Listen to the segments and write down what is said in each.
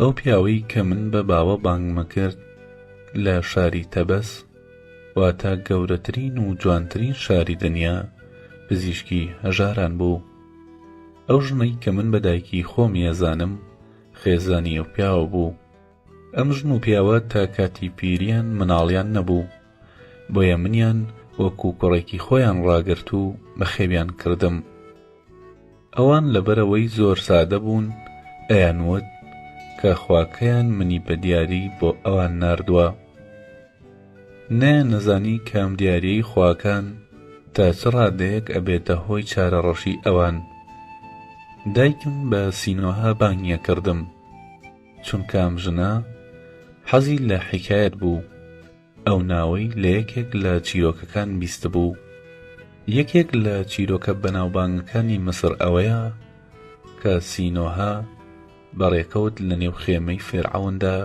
ئەو پیاوەی کە من بە باوە بانگمە کرد لە شاری تەبەس واتە گەورەترین و جوانترین شاری دنیا پزیشکی هەژاران بوو ئەو ژنەی کە من بە دایکی خۆم یەزانم خێزانی ئەو پیاوە بوو ئەم ژن و پیاوە تا کاتی پیریان مناڵیان نەبوو، بۆیە منیان وەکوو کوڕێکی خۆیان ڕاگرت و بەخێویان کردم. ئەوان لەبەرئەوەی زۆر سادە بوون، ئەیانوت کە خواکەیان منی بە دیاری بۆ ئەوان ناردووە. نەیانەزانی کە ئەم دیارییەی خواکان تا چ ڕادەیەک ئەبێتە هۆی چارەڕەشی ئەوان. دایکم بە سینۆها بانگییەکردم. چونکە ئەم ژنە حەزی لە حیکایەت بوو ئەو ناوەی لە یەکێک لە چیرۆکەکان بیستبوو یەکێک لە چیرۆکە بەناوبانگەکانی مسر ئەوەیە کە سینۆها بەڕێکەوت لە نێو خێمەی فێرعوندا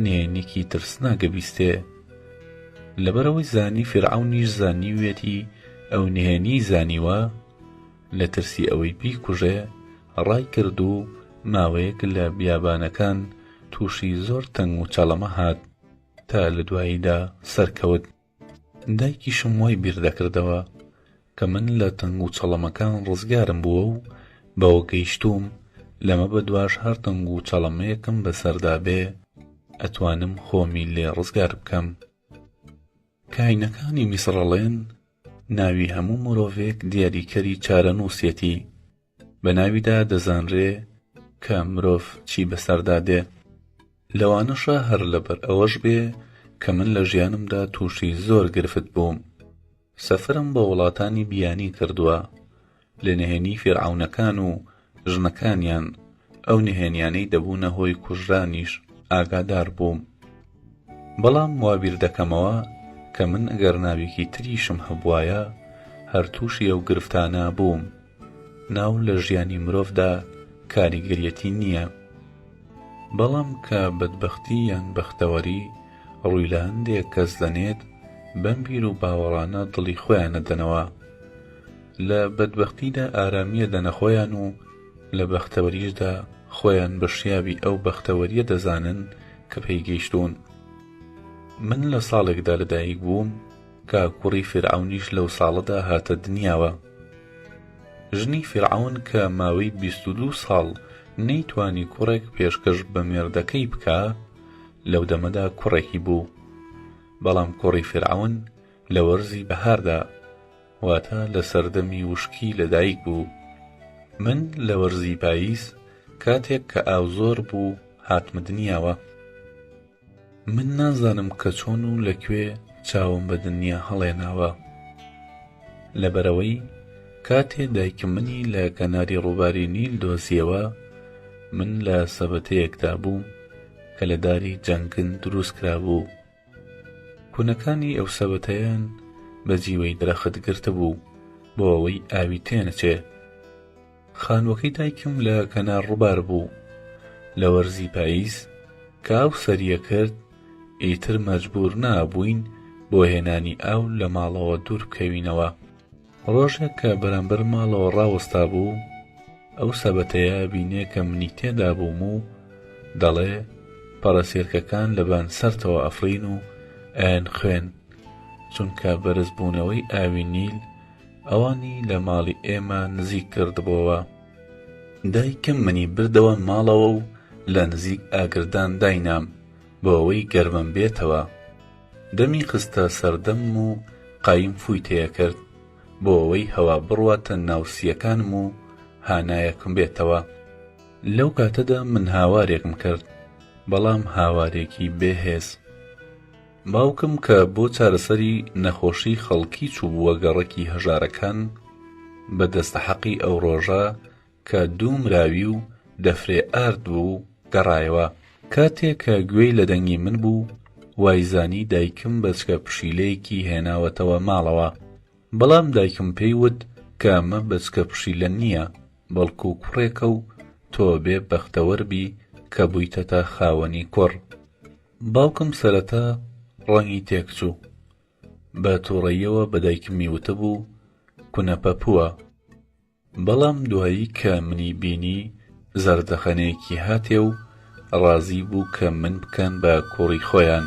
نێنێکی ترسناگە بیستێ لەبەرەوەی زانی فێرعونیش زانیوێتی ئەو نهێنی زانیوە لە ترسی ئەوەی بیکوژێ ڕای کرد و ماوەیەک لە بیابانەکان تووشی زۆر تەنگ و چەڵەمە هات تا لە دواییدا سەرکەوت. دایکیشم وای بیر دەکردەوە کە من لە تەنگ و چەڵەمەکان ڕزگارم بووە و بەوە گەیشتووم لەمە بە دواش هەر تەنگ و چەڵەمەیەکم بەسەردا بێ ئەتوانم خۆمی لێ ڕزگار بکەم. کاینەکانی میسڕەڵێن ناوی هەموو مرۆڤێک دیاریکەری چارەنووسیەتی بەناویدا دەزانرێ کە مرۆڤ چی بەسەردا دێ لەوانەشە هەر لەبەر ئەوەش بێ کە من لە ژیانمدا تووشی زۆر گرفت بووم سەفرم بۆ وڵاتانی بیانی کردووە لە نهێنی فیرعەونەکان و ژنەکانیان ئەو نهێنیانەی دەبوونە هۆی کوژرانیش ئاگادار بووم بەڵام وا بیر دەکەمەوە کە من ئەگەر ناوێکی تریشم هەبوایە هەر تووشی ئەو گرفتانە بووم ناو لە ژیانی مرۆڤدا کاریگەریەتی نییە بەڵام کە بەدبەختی یان بەختەوەری ڕووی لە هەندێک کەس دەنێت بەم بیر و باوەڕانە دڵی خۆیان نەدەنەوە لە بەدبەختیدا ئارامییە دەنە خۆیان و لە بەختەوەریشدا خۆیان بە شیاوی ئەو بەختەوەرییە دەزانن کە پێی گەیشتوون من لە ساڵێکدا لەدایک بووم کە کوڕی فیرعونیش لەو ساڵەدا هاتە دنیاوە ژنی فیرعون کە ماوەی 22 ساڵ نەیتوانی کوڕێک پێشکەش بە مێردەکەی بکە لەو دەمەدا کوڕێکی بوو بەڵام کوڕی فیرعون لە وەرزی بەهاردا واتە لە سەردەمی وشکی لەدایک بوو من لە وەرزی پاییز کاتێک کە ئاو زۆر بوو هاتمە دنیاوە من نازانم کە چۆن و لەکوێ چاوم بە دنیا هەڵێناوە لەبەرەوەی کاتێ دایکم منی لە کەناری ڕووباری نیل دۆزیەوە من لە سەبەتەیەکدا بووم کە لە داری جەنگن دروست کرابوو کونەکانی ئەو سەبەتەیان بە جیوەی درەخت گرتبوو بۆ ئەوەی ئاوی تێنەچێ خانووەکەی دایکم لە کەنار ڕووبار بوو لە وەرزی پاییز کە ئەو سەریە کرد ئیتر مەجبور نابووین بۆ هێنانی ئاو لە ماڵەوە دوور بکەوینەوە ڕۆژێک کە بەرامبەر ماڵەوە ڕاوەستابوو، ئەو سەبەتەیە بینێ کە منی تێدا بووم و دەڵێ، پەڕەسێرکەکان لەبان سەرتەوە ئەفڕین و ئەیەن خوێن، چونکە بەرزبوونەوەی ئاوی نیل ئەوانی لە ماڵی ئێمە نزیک کردبۆوە. دایکم منی بردەوە ماڵەوە و لە نزیک ئاگردان داینام بۆ ئەوەی گەرمم بێتەوە. دەمی خستە سەردەمم و قایم فووی تێکرد بۆ ئەوەی هەوا بڕواتە ناو سییەکانم و هانایەکم بێتەوە. لەو کاتەدا من هاوارێکم کرد، بەڵام هاوارێکی بێهێز. باوکم کە بۆ چارەسەری نەخۆشی خەڵکی چووبووە گەڕەکی هەژارەکان، بە دەستەحەقی ئەو ڕۆژە کە دوو مراوی و دەفرێ ئارد بوو و گەڕایەوە، کاتێ کە گوێی لە دەنگی من بوو، وای زانی دایکم بەچکە پشیلەیەکی هێناوەتەوە ماڵەوە، بەڵام دایکم پێی وت کە ئەمە بەچکە پشیلە نییە، بەڵکو کوڕێکە و تۆ بێ بەختەوەر بی کە بوویتەتە خاوەنی کوڕ. باوکم سەرەتا ڕەنگی تێکچوو، بە تووڕەییەوە بە دایکمی وتبوو کونەپەپووە. بەڵام دوایی کە منی بینی زەردەخەنەیەکی هاتێ و ڕازی بوو کە من بکەن بە کوڕی خۆیان.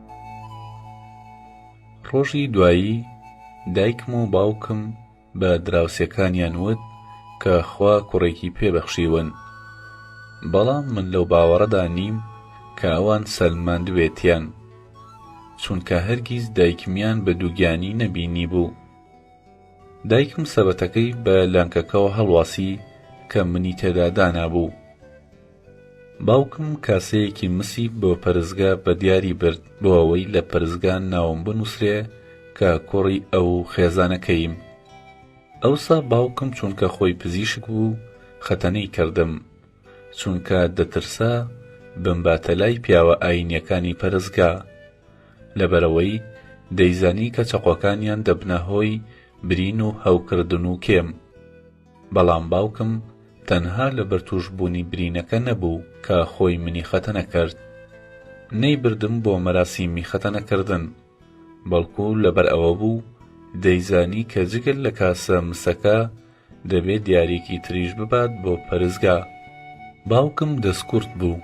ڕۆژی دوایی دایکم و باوکم بە دراوسێکانیان وت کە خوا کوڕێکی پێبەخشیون بەڵام من لەو باوەڕەدا نیم کە ئەوان سەلماندوێتیان چونکە هەرگیز دایکمیان بە دووگیانی نەبینی بوو دایکم سەبەتەکەی بە لانکەکەەوە هەڵواسی کە منی تێدا دانابوو باوکم کاسەیەکی مسی بۆ پەرستگا بە دیاری برد بۆ ئەوەی لە پەرستگا ناوم بنووسرێ کە کوڕی ئەو و خێزانەکەییم. ئەوسا باوکم چونکە خۆی پزیشک بوو خەتەنەی کردم، چونکە دەترسا بمباتە لای پیاوە ئایینیەکانی پەرستگا، لەبەرئەوەی دەیزانی کە چەقۆکانیان دەبنە هۆی برین و هەوکردن و کێم. بەڵام باوکم تەنها لەبەر تووشبوونی برینەکە نەبوو کە خۆی منی خەتەنە کرد. نەیبردم بۆ مەراسیمی خەتەنەکردن، بەڵکو لەبەر ئەوە بوو دەیزانی کە جگە لە کاسە مسەکە دەبێ دیارێکی تریش ببات بۆ پەرستگا. باوکم دەستکورت بوو،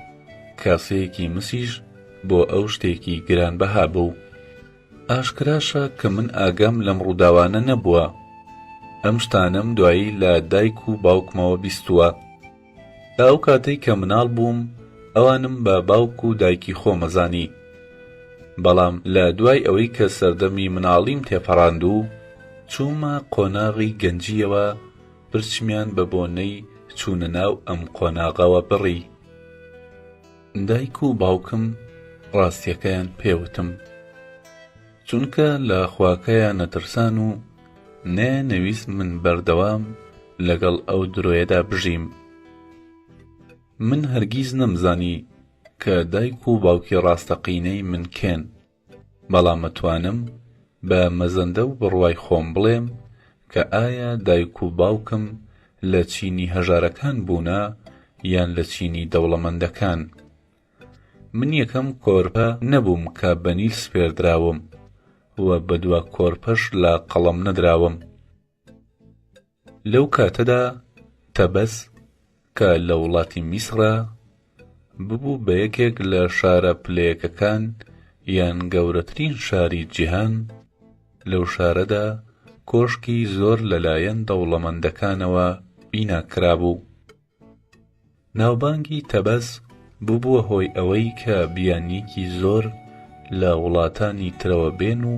کاسەیەکی مسیش بۆ ئەو شتێکی گرانبەها بوو. ئاشکراشە کە من ئاگام لەم ڕووداوانە نەبووە، ئەم شتانەم دوایی لە دایک و باوکمەوە بیستووە. تا ئەو کاتەی کە مناڵ بووم ئەوانم بە باوک و دایکی خۆم ئەزانی. بەڵام لە دوای ئەوەی کە سەردەمی مناڵیم تێپەڕاند و چوومە قۆناغی گەنجییەوە پرچمیان بە بۆنەی چوونە ناو ئەم قۆناغەوە بڕی. دایک و باوکم ڕاستیەکەیان پێوتم چونکە لە خواکەیان نەترسان و نە نەویست من بەردەوام لەگەڵ ئەو درۆیەدا بژیم من هەرگیز نەمزانی کە دایک و باوکی ڕاستەقینەی من کێن بەڵام ئەتوانم بە مەزەندە و بڕوای خۆم بڵێم کە ئایا دایک و باوکم لە چینی هەژارەکان بوونە یان لە چینی دەوڵەمەندەکان؟ من یەکەم کۆرپە نەبووم کە بە نیل سپێردراوم و بە دوا کۆرپەش لە قەڵەم نەدراوم. لەو کاتەدا تەبەس کە لە وڵاتی میسرە ببوو بە یەکێک لە شارە پلەیەکەکان یان گەورەترین شاری جیهان لەو شارەدا کۆشکی زۆر لەلایەن دەوڵەمەندەکانەوە بینا کرابوو ناوبانگی تەبەس ببووە هۆی ئەوەی کە بیانییەکی زۆر لە وڵاتانی ترەوە بێن و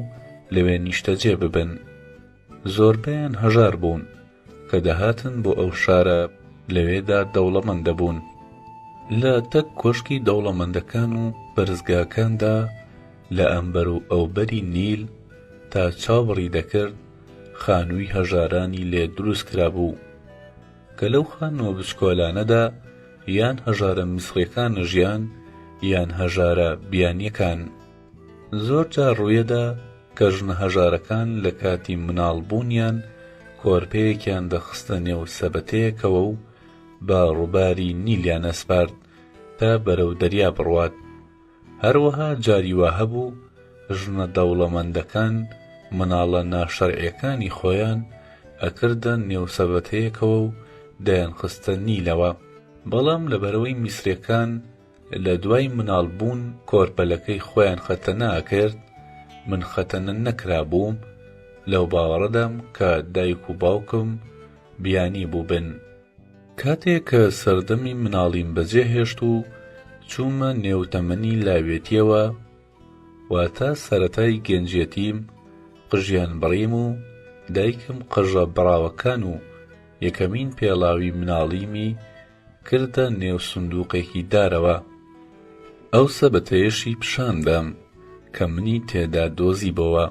لەوێ نیشتەجێ ببن. زۆربەیان هەژار بوون، کە دەهاتن بۆ ئەو شارە لەوێدا دەوڵەمەند دەبوون. لە تەک کۆشکی دەوڵەمەندەکان و بەرزگاکاندا لە ئەمبەر و ئەوبەری نیل تا چاو بڕی دەکرد، خانووی هەژارانی لێ دروست کرابوو. کە لەو خانووە بچکۆلانەدا یان هەژارە میسڕیەکان ئەژیان یان هەژارە بیانیەکان زۆر جار ڕوویەدا کە ژنە هەژارەکان لە کاتی مناڵ بوونیان کۆرپەیەکیان دەخستە نێو سەبەتەیەکەوە و بە ڕووباری نیلیان ئەسپارد تا بەرەو دەریا بڕوات هەروەها جاری وا هەبوو ژنە دەوڵەمەندەکان مناڵە ناشەرعیەکانی خۆیان ئەکردە نێو سەبەتەیەکەوە و دەیانخستە نیلەوە، بەڵام لەبەرئەوەی میسرەکان لە دوای مناڵ بوون کۆرپەلەکەی خۆیان خەتەنە ئەکرد، من خەتەنە نەکرابووم، لەو باوەڕەدام کە دایک و باوکم بیانی بووبن. کاتێ کە سەردەمی مناڵیم بەجێهێشت و چوومە نێو تەمەنی لاوێتییەوە، واتە سەرەتای گەنجێتیم، قژیان بڕیم و دایکم قژە بڕاوەکان و یەکەمین پێڵاوی مناڵیمی کردە نێو سندووقێکی دارەوە. ئەو سەبەتەیەشی پیشاندام کە منی تێدا دۆزیبۆوە.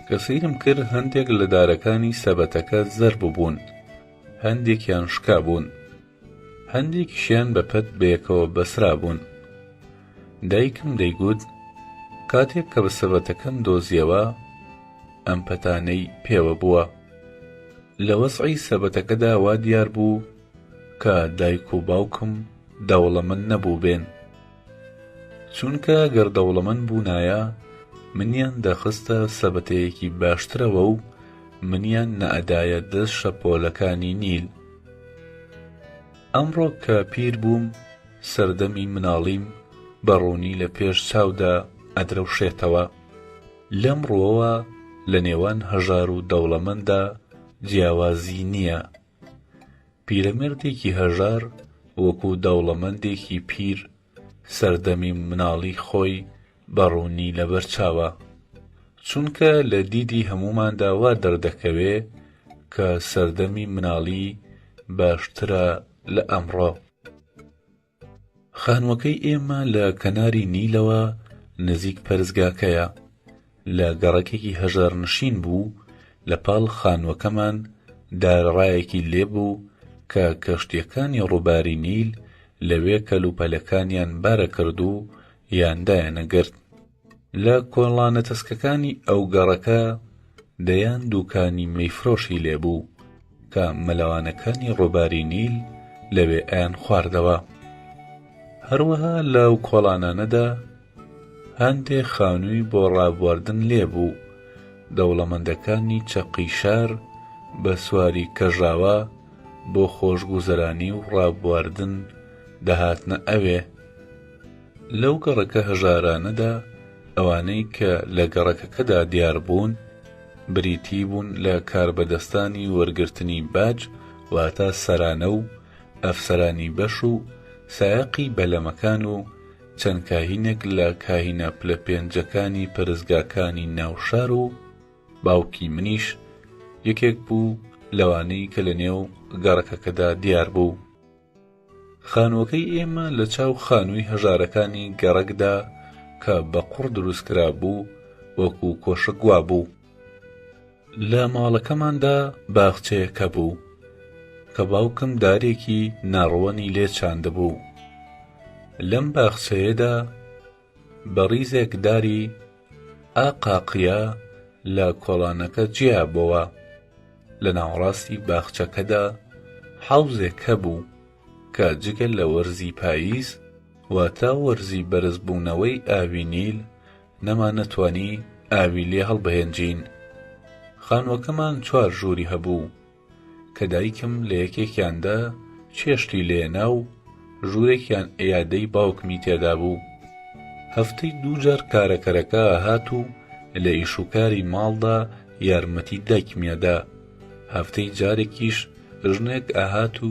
کە سەیرم کرد هەندێک لە دارەکانی سەبەتەکە زەرب بوون هەندێکیان شکا بوون هەندێکیشیان بە پەت بەیەکەوە بەسرا بوون دایکم دەیگوت کاتێک کە بە سەبەتەکەم دۆزیەوە ئەم پەتانەی پێوە بووە لە وەسعی سەبەتەکەدا وا دیار بوو کە دایک و باوکم دەوڵەمن نەبوو بێن چونکە گەر دەوڵەمەند بوونایە منیان دەخستە سەبەتەیەکی باشترەوە و منیان نەئەدایە دەست شەپۆلەکانی نیل ئەمڕۆ کە پیر بووم سەردەمی مناڵیم بە ڕوونی لە پێش چاودا ئەدرەوشێتەوە لەم ڕووەوە لە نێوان هەژار و دەوڵەمەندا جیاوازی نییە پیرەمێردێکی هەژار وەکوو دەوڵەمەندێکی پیر سەردەمی مناڵی خۆی بە ڕوونی لەبەر چاوە، چونکە لە دیدی هەمووماندا وا دەردەکەوێ کە سەردەمی مناڵی باشترە لە ئەمڕۆ. خانووەکەی ئێمە لە کەناری نیلەوە نزیک پەرستگاکەیە، لە گەڕەکێکی هەژارنشین بوو، لە پاڵ خانووەکەمان دارەڕایەکی لێبوو کە کەشتیەکانی ڕووباری نیل لەوێ کەلوپەلەکانیان بارەکرد و یان دایانەگرت. لە کۆڵانە تەسکەکانی ئەو گەڕەکە دەیان دووکانی مەیفرۆشی لێبوو کە مەلەوانەکانی ڕۆباری نیل لەوێ ئەیان خواردەوە هەروەها لەو کۆڵانانەدا هەندێ خانووی بۆ ڕابواردن لێبوو دەوڵەمەندەکانی چەقی شار بە سواری کەژاوە بۆ خۆشگوزەرانی و ڕابواردن دەهاتنە ئەوێ لەو گەڕەکە هەژارانەدا ئەوانەی کە لە گەڕەکەکەدا دیاربوون بریتی بوون لە کاربەدەستانی وەرگرتنی باج واتە سەرانە و ئەفسەرانی بەش و سایەقی بەلەمەکان و چەند کاهینێک لە کاهینە پلە پێنجەکانی پەرزگاکانی ناوشار و باوکی منیش یەکێک بوو لەوانەی کە لە نێو گەڕەکەکەدا دیار بوو خانووەکەی ئێمە لە چاو خانووی هەژارەکانی گەڕەکدا کە بە قوڕ دروست کرابوو وەکو کۆشک وا بوو لە ماڵەکەماندا باخچەیەکە بوو کە باوکم دارێکی ناڕوەنی لێ چاندبوو لەم باخچەیەدا بە ڕیزێک داری ئاقاقیە لە کۆڵانەکە جیا بۆوە، لە ناوەڕاستی باخچەکەدا حەوزێک هەبوو کە جگە لە وەرزی پاییز واتە وەرزی بەرزبوونەوەی ئاوی نیل نەمانەتوانی ئاوی لێ هەڵبهێنجین. خانووەکەمان چوار ژووری هەبوو. کە دایکم لە یەکێکیاندا چێشتی لێنا و ژوورێکیان عیادەی باوکمی تێدا بوو. هەفتەی دوو جار کارەکەرەکە ئەهات و لە ئیشوکاری ماڵدا یارمەتی دایکمیەدا، هەفتەی جارێکیش ژنێک ئەهات و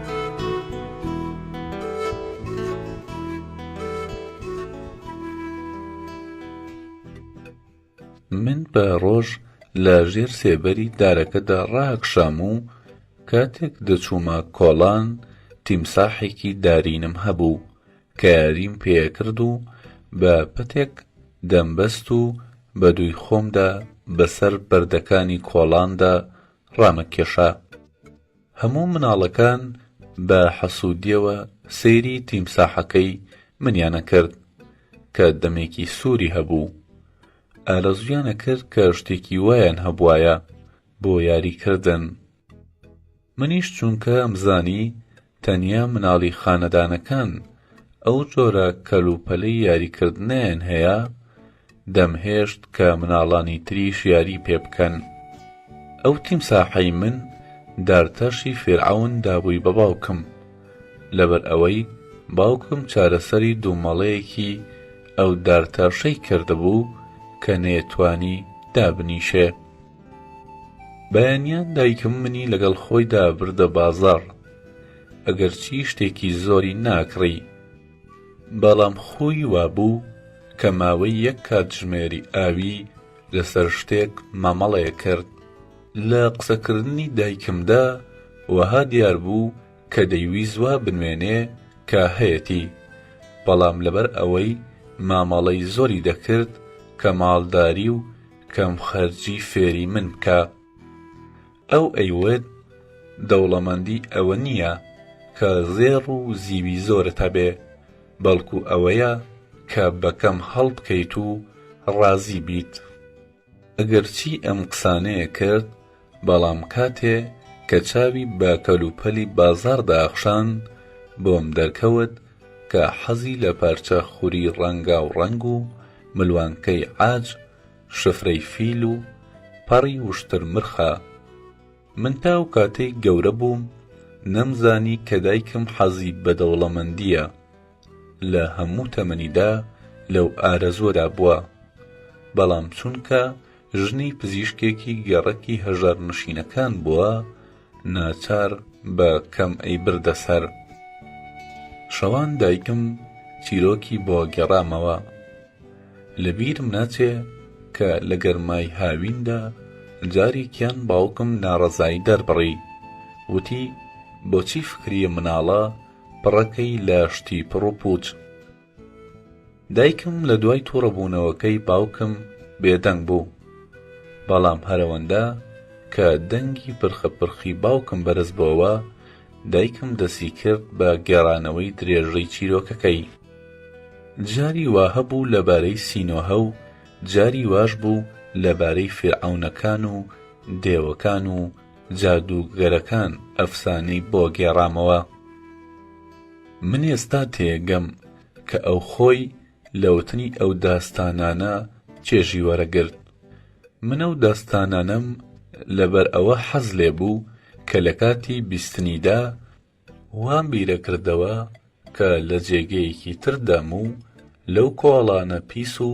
من بە ڕۆژ لە ژێر سێبەری دارەکەدا ڕاکشام و کاتێک دەچوومە کۆڵان تیمساحێکی دارینم هەبوو کە یاریم پێکرد و بە پەتێک دەمبەست و بە دووی خۆمدا بەسەر بەردەکانی کۆڵاندا ڕامەکێشا هەموو مناڵەکان بە حەسودیەوە سەیری تیمساحەکەی منیان ئەکرد کە دەمێکی سووری هەبوو ئالەزویان ئەکرد کە شتێکی وایان هەبوایە بۆ یاری کردن منیش چونکە ئەمزانی تەنیا مناڵی خانەدانەکان ئەو جۆرە کەلوپەلەی یاریکردنیان هەیە دەمهێشت کە مناڵانی تریش یاری پێ بکەن. ئەو تیمساحەی من دارتاشی فیرعەون دابووی بە باوکم. لەبەر ئەوەی باوکم چارەسەری دوومەڵەیەکی ئەو دارتاشەی کردبوو کە نەیەتوانی دابنیشێ. بەیانیان دایکم منی لەگەڵ خۆیدا بردە بازاڕ. ئەگەرچی شتێکی زۆری ناکڕی. بەڵام خۆی وابوو کە ماوەی یەک کاتژمێری ئاوی لەسەر شتێک مامەڵەیە کرد، لە قسەکردنی دایکمدا وەها دیار بوو کە دەیویست وا بنوێنێ کە هەیەتی، بەڵام لەبەر ئەوەی مامەڵەی زۆری دەکرد کە ماڵداری و کەمخەرجی فێری من بکا. ئەو ئەیوت دەوڵەمەندی ئەوە نییە کە زێڕ و زیوی زۆرت هەبێ بەڵکو ئەوەیە کە بەکەم هەڵبکەیت و ڕازی بیت ئەگەرچی ئەم قسانەیە کرد بەڵام کاتێ کە چاوی بە کەلوپەلی بازار داخشان بۆم دەرکەوت کە حەزی لە پارچە خوری ڕەنگاو ڕەنگ و ملوانکەی عاج شفرەی فیل و پەڕی وشتر مرخە من تا ئەو کاتەی گەورە بووم نەمزانی کە دایکم حەزی بە دەوڵەمەندییە لە هەموو تەمەنیدا لەو ئارەزوەدا بووە بەڵام چونکە ژنی پزیشکێکی گەڕەکی هەژار نشینەکان بووە ناچار بە کەم ئەی بردە سەر شەوان دایکم چیرۆکی بۆ گێڕامەوە لە بیرم ناچێ کە لە گەرمای هاویندا جارێکیان باوکم ناڕەزایی دەربڕی وتی بۆچی فکریە مناڵە پڕەکەی لە شتی پڕ و پوچ دایکم لە دوای توڕەبوونەوەکەی باوکم بێدەنگ بوو، بەڵام هەرەوەندە کە دەنگی پرخە پرخی باوکم بەرز بۆوە، دایکم دەسی کرد بە گێڕانەوەی درێژەی چیرۆکەکەی. جاری وا هەبوو لە بارەی سینۆهە و جاری واش بوو لە بارەی فیرعەونەکان و دێوەکان و جادووگەرەکان ئەفسانەی بۆ گێڕامەوە من ئێستا تێگەم کە ئەو خۆی لە وتنی ئەو داستانانە چێژی وەرەگرت من ئەو داستانانەم لەبەر ئەوە حەز لێ بوو کە لە کاتی بیستنیدا وام بیرەکردەوە کە لە جێگەیەکی تردام و لەو کۆڵانە پیس و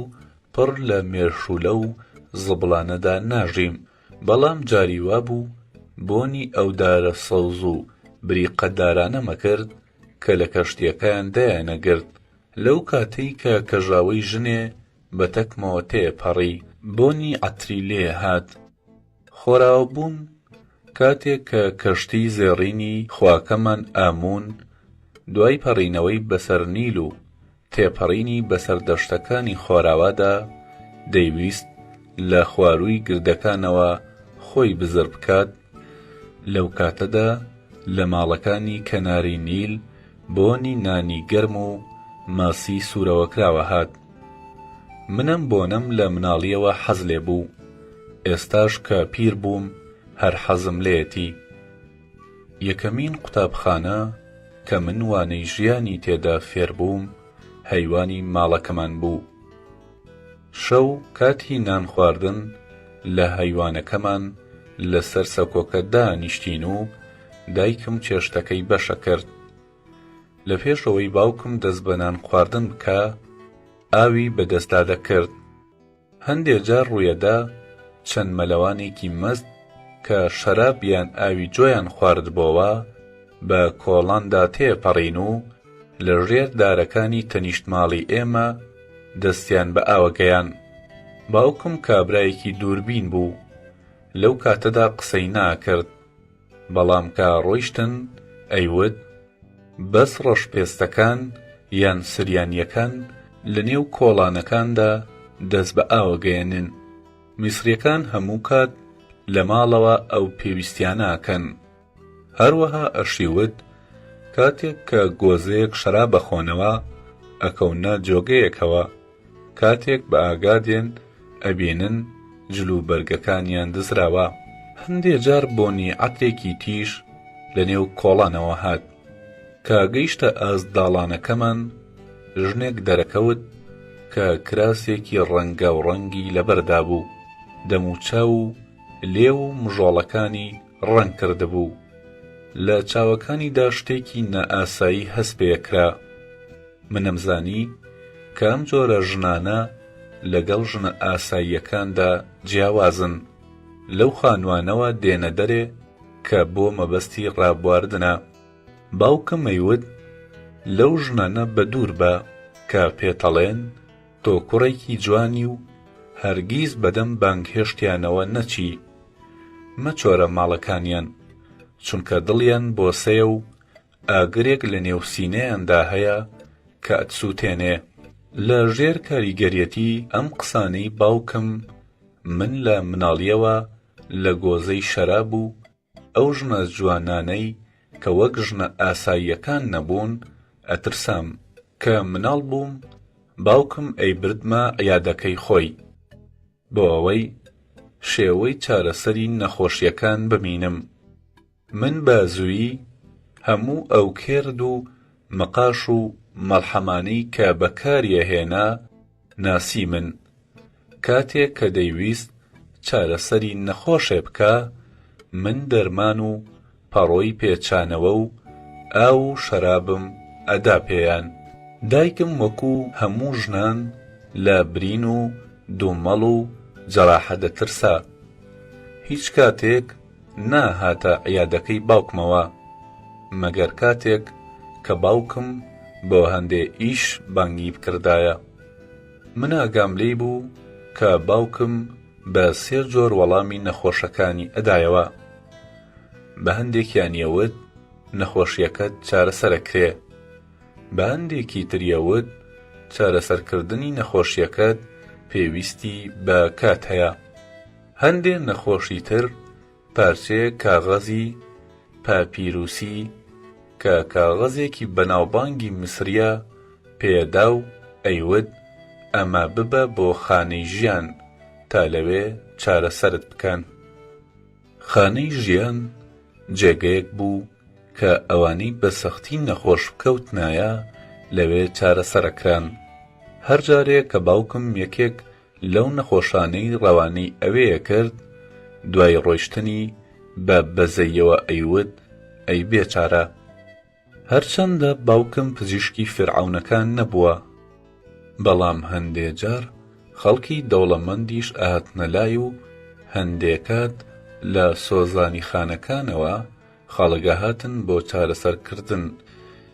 پڕ لە مێرشولە و زبڵانەدا ناژیم، بەڵام جاری وابوو بۆنی ئەو دارە سەوز و بریقەدارانەم ئەکرد کە لە کەشتییەکەیان دایانەگرت، لەو کاتەی کە کەژاوەی ژنێ بە تەکمەوە تێپەڕی، بۆنی عەتری لێ هات. خۆراوبوون، کاتێک کە کەشتیی زێڕینی خواکەمان ئاموون دوای پەڕینەوەی بەسەر نیل و تێپەڕینی بەسەر دەشتەکانی خۆراوادا، دەیویست لە خوارووی گردەکانەوە خۆی بزر بکات، لەو کاتەدا لە ماڵەکانی کەناری نیل بۆنی نانی گەرم و ماسی سورەوەکراوە هات من ئەم بۆنەم لە مناڵیەوە حەز لێ بوو ئێستاش کە پیر بووم هەر حەزم لێیەتی یەکەمین قوتابخانە کە من وانەی ژیانی تێدا فێر بووم هەیوانی ماڵەکەمان بوو شەو کاتی نان خواردن لە هەیوانەکەمان لەسەر سەکۆکە دانیشتین و دایکم چێشتەکەی بەشەکرد. لە پێش ئەوەی باوکم دەست بە نان خواردن بکا، ئاوی بە دەستدا دەکرد. هەندێ جار ڕوویەدا چەند مەلەوانێکی مەست کە شەراب یان ئاوی جۆیان خواردبۆوە، بە کۆڵاندا تێ پەڕین و لە ژێر دارەکانی تەنیشت ماڵی ئێمە دەستیان بە ئاوە گەیاند. باوکم کابرایەکی دووربین بوو. لەو کاتەدا قسەی ناکرد. بەڵام کە ڕۆیشتن ئەیوت بەس ڕەشپێستەکان یان سریانیەکان لە نێو کۆڵانەکاندا دەست بە ئاوەگەیەنن میسریەکان هەموو کات لە ماڵەوە ئەو پێویستیانە ئەکەن هەروەها ئەشی وت کاتێک کە گۆزەیەک شەراب ئەخۆنەوە ئەکەونە جۆگەیەکەوە کاتێک بە ئاگا دێن ئەبینن جل و بەرگەکانیان دزراوە، هەندێ جار بۆنی عەترێکی تیژ لە نێو کۆڵانەوە هات. کە گەیشتە ئاست داڵانەکەمان ژنێک دەرەکەوت کە کراسێکی ڕەنگاوڕەنگی لەبەر دابوو، دەموچاو و لێو و مژۆڵەکانی ڕەنگ کردبوو. لە چاوەکانیدا شتێکی نائاسایی هەست پێ ئەکرا. منم زانی کە ئەم جۆرە ژنانە لەگەڵ ژنە ئاساییەکاندا جیاوازن. لەو خانوانەوە دێنە دەرێ کە بۆ مەبەستی ڕابواردنە. باوکم ئەیوت لەو ژنانە بەدوور بە کە پێتەڵێن، تۆ کوڕێکی جوانی و هەرگیز بەدەم بانگهێشتیانەوە نەچی مەچۆرە ماڵەکانیان، چونکە دڵیان بۆسەیە و ئاگرێک لە نێو سینەیاندا هەیە کە ئەتسووتێنێ. لە ژێر کاریگەریەتی ئەم قسانەی باوکم من لە مناڵیەوە لە گۆزەی شەراب و ئەو ژنە جوانانەی کە وەک ژنە ئاساییەکان نەبوون ئەترسام کە مناڵ بووم باوکم ئەیبردمە عیادەکەی خۆی بۆ ئەوەی شێوەی چارەسەری نەخۆشیەکان ببینم من بە زوویی هەموو ئەو کێرد و مەقاش و مەڵحەمانی کە بەکاریە هێنا ناسیمن کاتێ کە دەیویست چارەسەری نەخۆشێ بکا من دەرمان و پەڕۆی پێچانەوە و ئاو و شەرابم ئەدا پێیان. دایکم وەکو هەموو ژنان لە برین و دومەڵ و جەراحە دەترسا هیچ کاتێک، نا هاتە عیادەکەی باوکمەوە مەگەر کاتێک کە باوکم بۆ هەندێ ئیش بانگی بکردایە من ئاگام لێی بوو کە باوکم بە سێ جۆر وەڵامی نەخۆشەکانی ئەدایەوە بە هەندێکیان یەوت نەخۆشیەکەت چارەسەرەکرێ بە هەندێکی تریەوت چارەسەرکردنی نەخۆشیەکەت پێویستی بە کات هەیە. هەندێ نەخۆشی تر پارچەیەک کاغەزی پاپیروسی کە کاغەزێکی بەناوبانگی میسریە پێدا و ئەیوت ئەمە ببە بۆ خانەی ژیان تا لەوێ چارەسەرت بکەن. خانەی ژیان جێگەیەک بوو کە ئەوانەی بە سەختی نەخۆش بکەوتنایە لەوێ چارەسەرەکران. هەر جارێ کە باوکم یەکێک لەو نەخۆشانەی ڕەوانەی ئەوێ کرد، دوای ڕۆیشتنی بە بەزەییەوە ئەیوت، ئەی بێچارە! هەرچەندە باوکم پزیشکی فیرعەونەکان نەبووە، بەڵام هەندێ جار خەڵکی دەوڵەمەندیش ئەهاتنە لای و هەندێ کات لە سۆزانیخانەکانەوە خەڵک ئەهاتن بۆ چارەسەرکردن،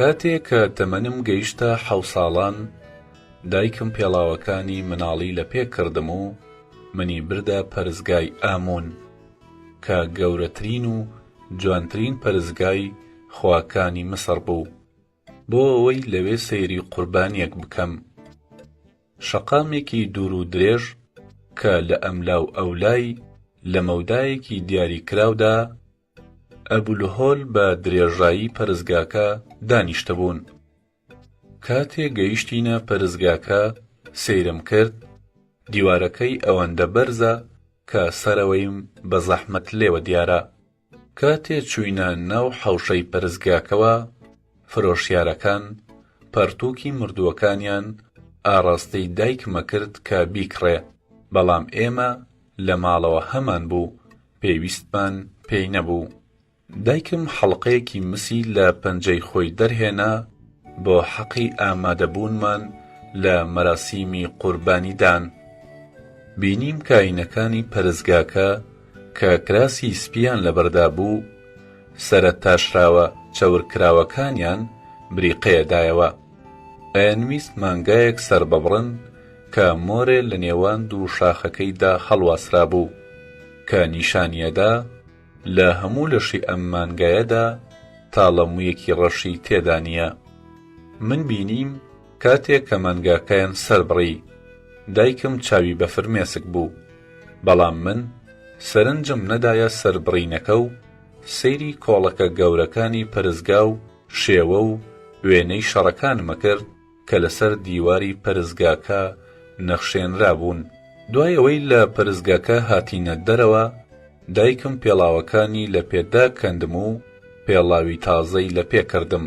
کاتێ کە تەمەنم گەیشتە حەو ساڵان، دایکم پێڵاوەکانی مناڵی لە پێ کڕدم و منی بردە پەرستگای ئاموون، کە گەورەترین و جوانترین پەرستگای خواکانی میسڕ بوو. بۆ ئەوەی لەوێ سەیری قوربانیەک بکەم شەقامێکی دوور و درێژ کە لە ئەملا و ئەولای لە مەودایەکی دیاری کراودا ئەبولهۆل بە درێژایی پەرزگاکە دانیشتبوون کاتێ گەیشتینە پەرزگاکە سەیرم کرد دیوارەکەی ئەوەندە بەرزە کە سەرەوەیم بە زەحمەت لێوە دیارە کاتێ چووینە ناو حەوشەی پەرستگاکەوە، فرۆشیارەکان پەڕتووکی مردووەکانیان ئاڕاستەی دایکم ئەکرد کە بیکڕێ، بەڵام ئێمە لە ماڵەوە هەمان بوو، پێویستمان پێی نەبوو. دایکم حەڵقەیەکی مسی لە پەنجەی خۆی دەرهێنا بۆ حەقی ئامادەبوونمان لە مەراسیمی قوربانیدان. بینیم کاینەکانی پەرستگاکە، کە کراسی سپییان لەبەردا بوو، سەرە تاشراوە چەورکراوەکانیان بریقەیە دایەوە. ئەیانویست مانگایەک سەرببڕن کە مۆرێ لە نێوان دوو شاخەکەیدا هەڵواسرابوو، کە نیشانییەدا لە هەموو لەشی ئەم مانگایەدا تاڵە موویەکی ڕەشی تێدا نییە. من بینیم کاتێک کە مانگاکەیان سەربڕی، دایکم چاوی بە فرمێسک بوو، بەڵام من سەرنجم نەدایە سەربڕینەکە و سەیری کۆڵەکە گەورەکانی پەرستگا و شێوە و وێنەی شەڕەکانم ئەکرد کە لەسەر دیواری پەرستگاکە نەخشێنرابوون. دوای ئەوەی لە پەرستگاکە هاتینە دەرەوە، دایکم پێڵاوەکانی لە پێتدا کەندم و پێڵاوی تازەی لە پێ کردم.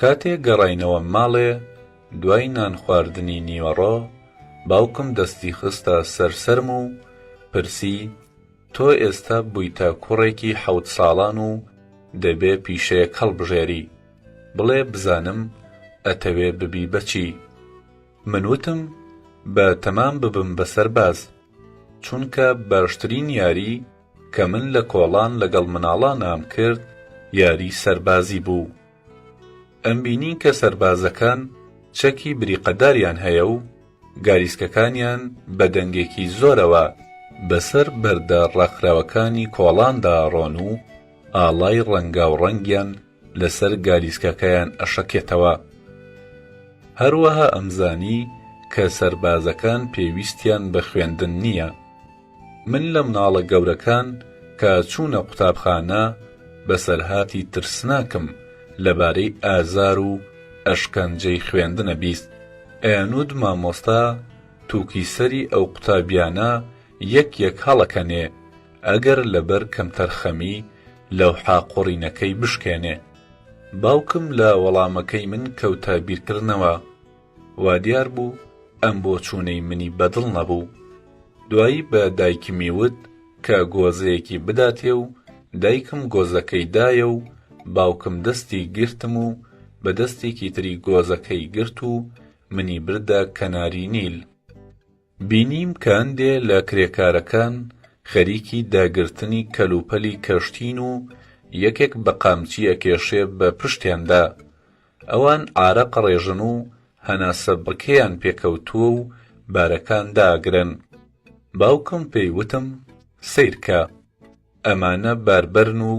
کاتێ گەڕاینەوە ماڵێ دوای نان خواردنی نیوەڕۆ، باوکم دەستی خستە سەر سەرم و پرسی، تۆ ئێستا بوویتە کوڕێکی حەوت ساڵان و دەبێ پیشەیەک هەڵبژێری، بڵێ بزانم ئەتەوێ ببی بە چی؟ من وتم بە تەمام ببم بە سەرباز، چونکە باشترین یاری، کە من لە کۆڵان لەگەڵ مناڵا نام کرد یاری سەربازی بوو ئەمبینین کە سەربازەکان چەکی بریقەداریان هەیە و گاریسکەکانیان بە دەنگێکی زۆرەوە بەسەر بەردە ڕەقراوەکانی کۆڵاندا ڕۆن و ئاڵای ڕەنگاوڕەنگیان لەسەر گالیسکەکەیان ئەشەکێتەوە. هەروەها ئەمزانی کە سەربازەکان پێویستیان بە خوێندن نییە. من لە مناڵە گەورەکان کە چوونە قوتابخانە بەسەرهاتی ترسناکم لەبارەی ئازار و ئەشکەنجەی خوێندنە بیست. ئەیانوت مامۆستا تووکی سەری ئەو قوتابیانە یەک یەک هەڵەکەنێ. ئەگەر لەبەر کەمتەرخەمی لەوحە قۆڕینەکەی بشکێنێ. باوکم لە وەڵامەکەی من کەوتە بیرکردنەوە، وادیار بوو ئەم بۆچوونەی منی بەدڵ نەبوو. دوایی بە دایکمی وت کە گۆزەیەکی بداتێ و دایکم گۆزەکەی دایە و باوکم دەستی گرتم و بە دەستێکی تری گۆزەکەی گرت و منی بردە کەناری نیل. بینیم کە هەندێ لە کرێکارەکان خەریکی داگرتنی کەلوپەلی کەشتین و یەکێک بە قامچی ئەکێشێ بە پشتیاندا، ئەوان عارەق ئەڕێژن و هەناسە بڕکێیان پێکەوتووە و بارەکان دائەگرن. باوکم پێی وتم سەیرکە. ئەمانە باربەرن و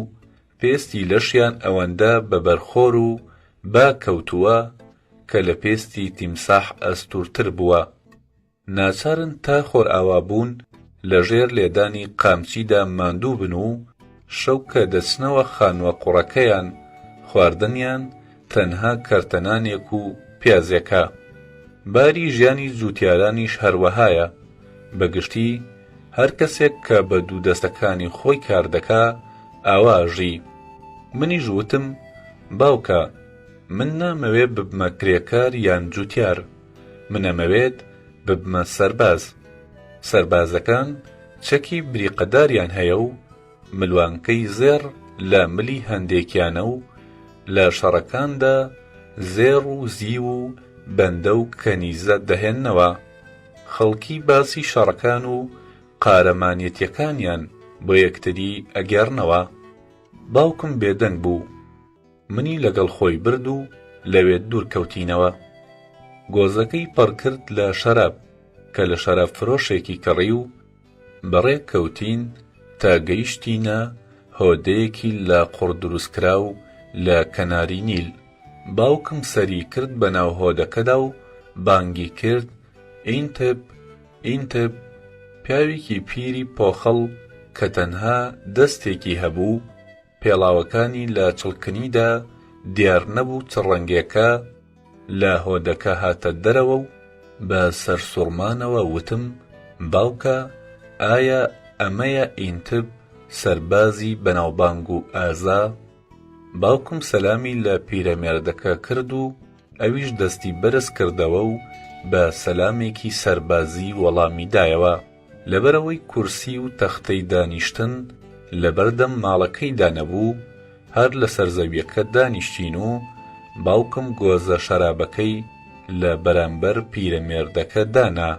پێستی لەشیان ئەوەندە بەبەرخۆر و با کەوتووە کە لە پێستی تیمساح ئەستوورتر بووە. ناچارن تا خۆرئاوابوون لە ژێر لێدانی قامچیدا ماندوو بن و شەو کە دەچنەوە خانووە قوڕەکەیان، خواردنیان تەنها کەرتە نانێک و پیازێکە. باری ژیانی جووتیارانیش هەروەهایە. بە گشتی هەر کەسێک کە بە دوو دەستەکانی خۆی کار دەکا ئاوا ئەژی. منیش وتم باوکە من نامەوێ ببمە کرێکار یان جووتیار. من ئەمەوێت ببمە سەرباز. سەربازەکان چەکی بریقەداریان هەیە و، ملوانکەی زێڕ لە ملی هەندێکیانە و لە شەڕەکاندا زێڕ و زیو و بەندە و کەنیزە دەهێننەوە، خەڵکی باسی شەڕەکان و قارەمانیەتیەکانیان بۆ یەکتری ئەگێڕنەوە. باوکم بێدەنگ بوو، منی لەگەڵ خۆی برد و لەوێ دوور کەوتینەوە. گۆزەکەی پڕکرد لە شەراب کە لە شەرابفرۆشێکی کڕی و، بەڕێ کەوتین تا گەیشتینە هۆدەیەکی لە قوڕ دروست کراو لە کەناری نیل، باوکم سەری کرد بە ناو هۆدەکەدا و بانگی کرد، ئینتب، ئینتب، پیاوێکی پیری پۆخڵ کە تەنها دەستێکی هەبوو، پێڵاوەکانی لە چڵکنیدا دیار نەبوو چ ڕەنگێکە، لە هۆدەکە هاتە دەرەوە و بە سەرسوڕمانەوە وتم، باوکە، ئایا ئەمەیە ئینتب، سەربازی بەناوبانگ و ئازا؟ باوکم سەلامی لە پیرەمێردەکە کرد و ئەویش دەستی بەرز کردەوە و بە سەلامێکی سەربازی وەڵامی دایەوە. لەبەرئەوەی کورسی و تەختەی دانیشتن لەبەردەم ماڵەکەیدا نەبوو، هەر لەسەر زەویەکە دانیشتین و باوکم گۆزە شەرابەکەی لە بەرامبەر پیرەمێردەکە دانا،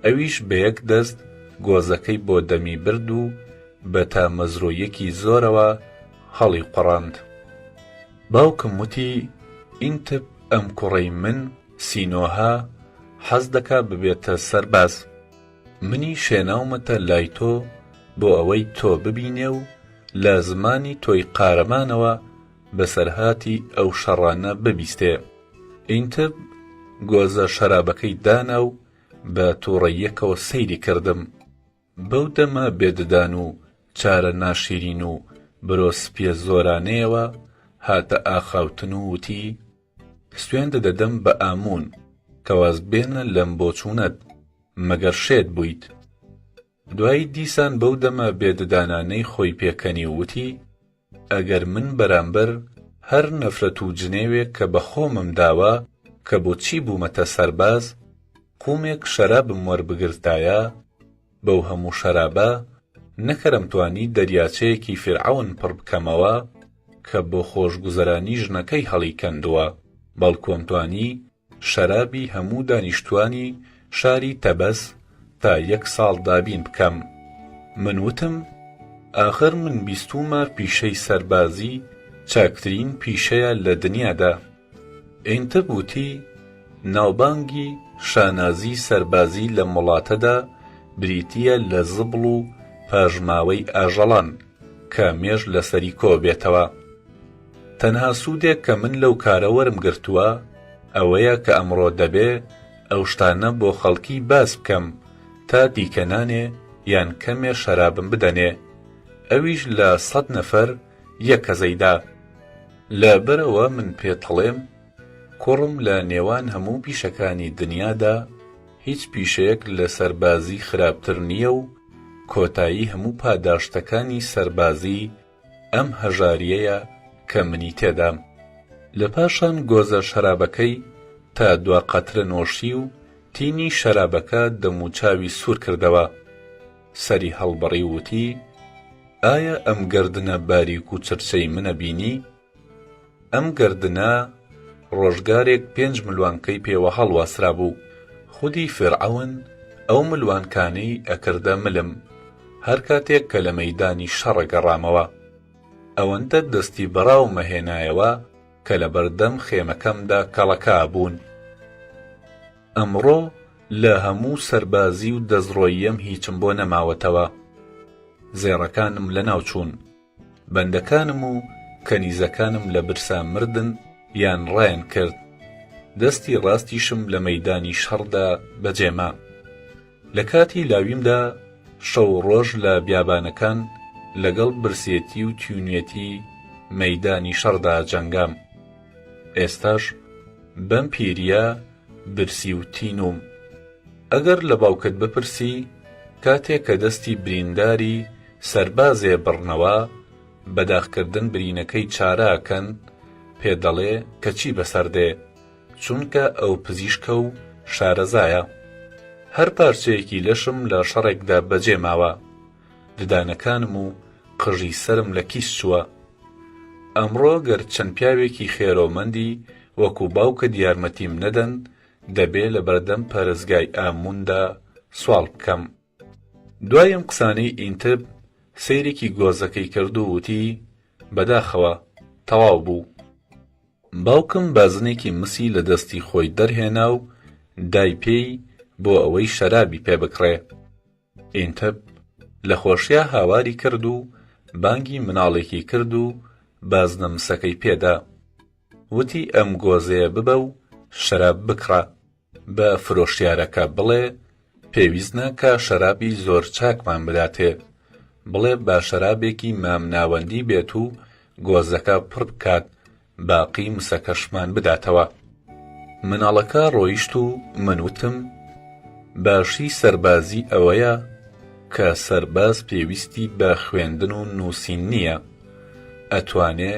ئەویش بەیەک دەست گۆزەکەی بۆ دەمی برد و بە تامەزرۆیەکی زۆرەوە هەڵیقوڕاند. باوکم وتی، ئینتب ئەم کوڕەی من، سینۆهە حەز دەکا ببێتە سەرباز. منیش هێناومەتە لای تۆ بۆ ئەوەی تۆ ببینێ و لە زمانی تۆی قارەمانەوە بەسەرهاتی ئەو شەڕانە ببیستێ. ئینتب گۆزە شەرابەکەی دانا و بە تووڕەییەکەوە سەیری کردم. بەو دەمە بێددان و چارە ناشیرین و برۆ سپیە زۆرانەیەوە هاتە ئاخاوتن و وتی، سوێند دەدەم بە ئاموون، کە واز بێنە لەم بۆچوونەت، مەگەر شێت بوویت. دوایی دیسان بەو دەمە بێددانانەی خۆی پێکەنی و وتی، ئەگەر من بەرامبەر هەر نەفرەت و جنێوێک کە بە خۆمم داوە کە بۆچی بوومەتە سەرباز، قومێک شەرابم وەربگرتایە، بەو هەموو شەرابە، نەکەرم توانی دەریاچەیەکی فیرعەون پڕ بکەمەوە، کە بۆ خۆشگوزەرانی ژنەکەی هەڵیکەندووە، بەڵکۆم توانی، شەرابی هەموو دانیشتوانی شاری تەبەس تا یەک ساڵ دابین بکەم من وتم ئاخر من بیستومە پیشەی سەربازی چاکترین پیشەیە لە دنیادا ئینتب وتی ناوبانگی شانازی سەربازی لەم وڵاتەدا بریتیە لە زبڵ و پاژماوەی ئاژەڵان کە مێش لەسەری کۆبێتەوە تەنها سوودێک کە من لەو کارە وەرم گرتووە ئەوەیە کە ئەمڕۆ دەبێ ئەو شتانە بۆ خەڵکی باس بکەم تا دیکە نانێ یان کەمێ شەرابم بدەنێ ئەویش لە سەد نەفەر یەک کەزەیدا لە بەرەوە من پێتەڵێم کوڕم لە نێوان هەموو پیشەکانی دنیادا هیچ پیشەیەک لە سەربازی خراپتر نییە و کۆتایی هەموو پاداشتەکانی سەربازی ئەم هەژاریەیە کە منی تێدام. لە پاشان گۆزە شەرابەکەی تا دوا قەترە نۆشی و تینی شەرابەکە دەموچاوی سوور کردەوە. سەری هەڵبڕی و وتی، ئایا ئەم گەردنە باریک و چرچەی منە بینی؟ ئەم گەردنە ڕۆژگارێک پێنج ملوانکەی پێوە هەڵواسرابوو خودی فیرعەون ئەو ملوانکانەی ئەکردە ملم هەر کاتێک کە لە مەیدانی شەڕ گەڕامەوە ئەوەندە دەستی بەڕاوم ئەهێنایەوە کە لە بەردەم خێمەکەمدا کەڵەکا ئەبوون ئەمڕۆ لە هەموو سەربازی و دەستڕۆییەم هیچم بۆ نەماوەتەوە زێڕەکانم لەناو چوون بەندەکانم و کەنیزەکانم لە برسا مردن یان ڕایان کرد، دەستی ڕاستیشم لە مەیدانی شەڕدا بەجێما. لە کاتی لاویمدا شەو و ڕۆژ لە بیابانەکان لەگەڵ برسێتی و تیونێتی مەیدانی شەڕدا جەنگام. ئێستاش بەم پیرییە، برسی و تینووم. ئەگەر لە باوکت بپرسی، کاتێ کە دەستی برینداری سەربازێ بڕنەوە، بە داخکردن برینەکەی چارە ئەکەن، پێ دەڵێ کە چی بەسەر دێ، چونکە ئەو پزیشکە و شارەزایە. هەر پارچەیەکی لەشم لە شەڕێکدا بەجێ ماوە. ددانەکانم و قژی سەرم لە کیس چووە. ئەمڕۆ گەر چەند پیاوێکی خێرۆمەندی وەکو باوکت یارمەتیم نەدەن، دەبێ لە بەردەم پەرستگای ئامووندا سواڵ بکەم. دوای ئەم قسانەی ئینتب سەیرێکی گۆزەکەی کرد و وتی، بەداخەوە، تەواو بوو. باوکم بازنێکی مسی لە دەستی خۆی دەرهێنا و دای پێی بۆ ئەوەی شەرابی پێ بکڕێ. ئینتب لە خۆشیا هاواری کرد و بانگی مناڵێکی کرد و بازنە مسەکەی پێ دا. وتی ئەم گۆزەیە ببە و شەراب بکڕە، بە فرۆشیارەکە بڵێ پێویست ناکا شەرابی زۆر چاکمان بداتێ، بڵێ با شەرابێکی مام ناوەندی بێت و گۆزەکە پڕ بکات باقی مسەکەشمان بداتەوە. مناڵەکە ڕۆیشت و من وتم، باشی سەربازی ئەوەیە کە سەرباز پێویستی بە خوێندن و نووسین نییە، ئەتوانێ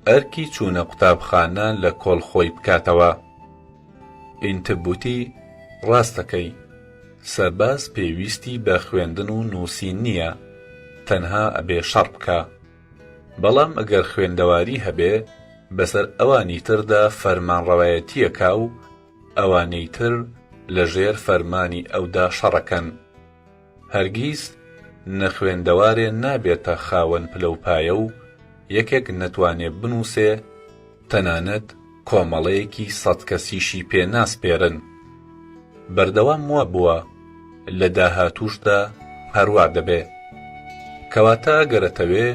ئەرکی چوونە قوتابخانە لە کۆڵ خۆی بکاتەوە. ئینتب وتی، ڕاستەکەی، سەرباز پێویستی بە خوێندن و نووسین نییە، تەنها ئەبێ شەڕ بکا. بەڵام ئەگەر خوێندەواری هەبێ بەسەر ئەوانی تردا فەرمانڕەوایەتییەکا و ئەوانەی تر لە ژێر فەرمانی ئەودا شەڕەکەن. هەرگیز نەخوێندەوارێ نابێتە خاوەن پلەوپایە و یەکێک نەتوانێ بنووسێ، تەنانەت کۆمەڵەیەکی سەد کەسیشی پێ ناسپێرن. بەردەوام وا بووە، لە داهاتووشدا هەروا دەبێ. کەواتە ئەگەر ئەتەوێ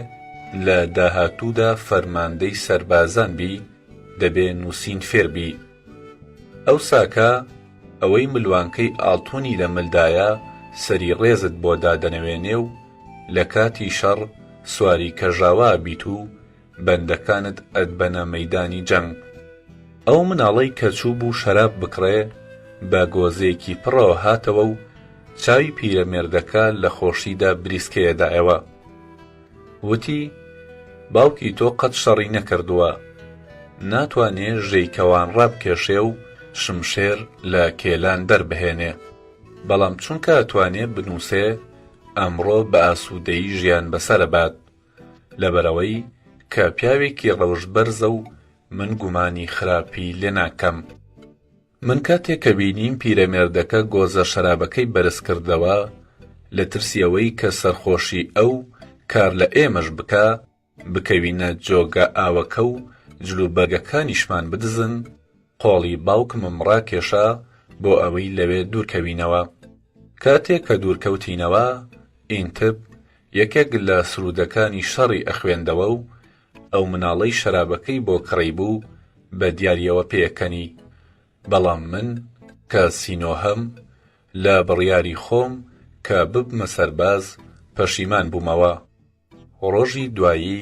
لە داهاتوودا فەرماندەی سەربازان بی، دەبێ نووسین فێر بی. ئەوساکە ئەوەی ملوانکەی ئاڵتوونی لە ملدایە سەری ڕێزت بۆ دادەنەوێنێ و لە کاتی شەڕ سواری کەژاوە ئەبیت و بەندەکانت ئەتبەنە مەیدانی جەنگ. ئەو مناڵەی کە چووبوو شەراب بکڕێ، بە گۆزێکی پڕەوە هاتەوە و چاوی پیرەمێردەکە لە خۆشیدا بریسکەیە دایەوە. وتی، باوکی تۆ قەت شەڕی نەکردووە. ناتوانێ ژێی کەوان ڕابکێشێ و شمشێر لە کێلان دەربهێنێ، بەڵام چونکە ئەتوانێ بنووسێ، ئەمڕۆ بە ئاسوودەیی ژیان بەسەر ئەبات. لەبەرئەوەی کە پیاوێکی ڕەوشت بەرزە و من گومانی خراپی لێ ناکەم. من کاتێ کە بینیم پیرەمێردەکە گۆزە شەرابەکەی بەرز کردەوە لە ترسی ئەوەی کە سەرخۆشی ئەو کار لە ئێمەش بکا بکەوینە جۆگە ئاوەکە و جلوبەرگەکانیشمان بدزن قۆڵی باوکمم ڕاکێشا بۆ ئەوەی لەوێ دوورکەوینەوە. کاتێ کە دوورکەوتینەوە ئینتب یەکێک لە سروودەکانی شەڕی ئەخوێندەوە و ئەو مناڵەی شەرابەکەی بۆ کڕیبوو بە دیارییەوە پێیەکەنی، بەڵام من کە سینۆهەم، لە بڕیاری خۆم کە ببمە سەرباز پەشیمان بوومەوە. ڕۆژی دوایی،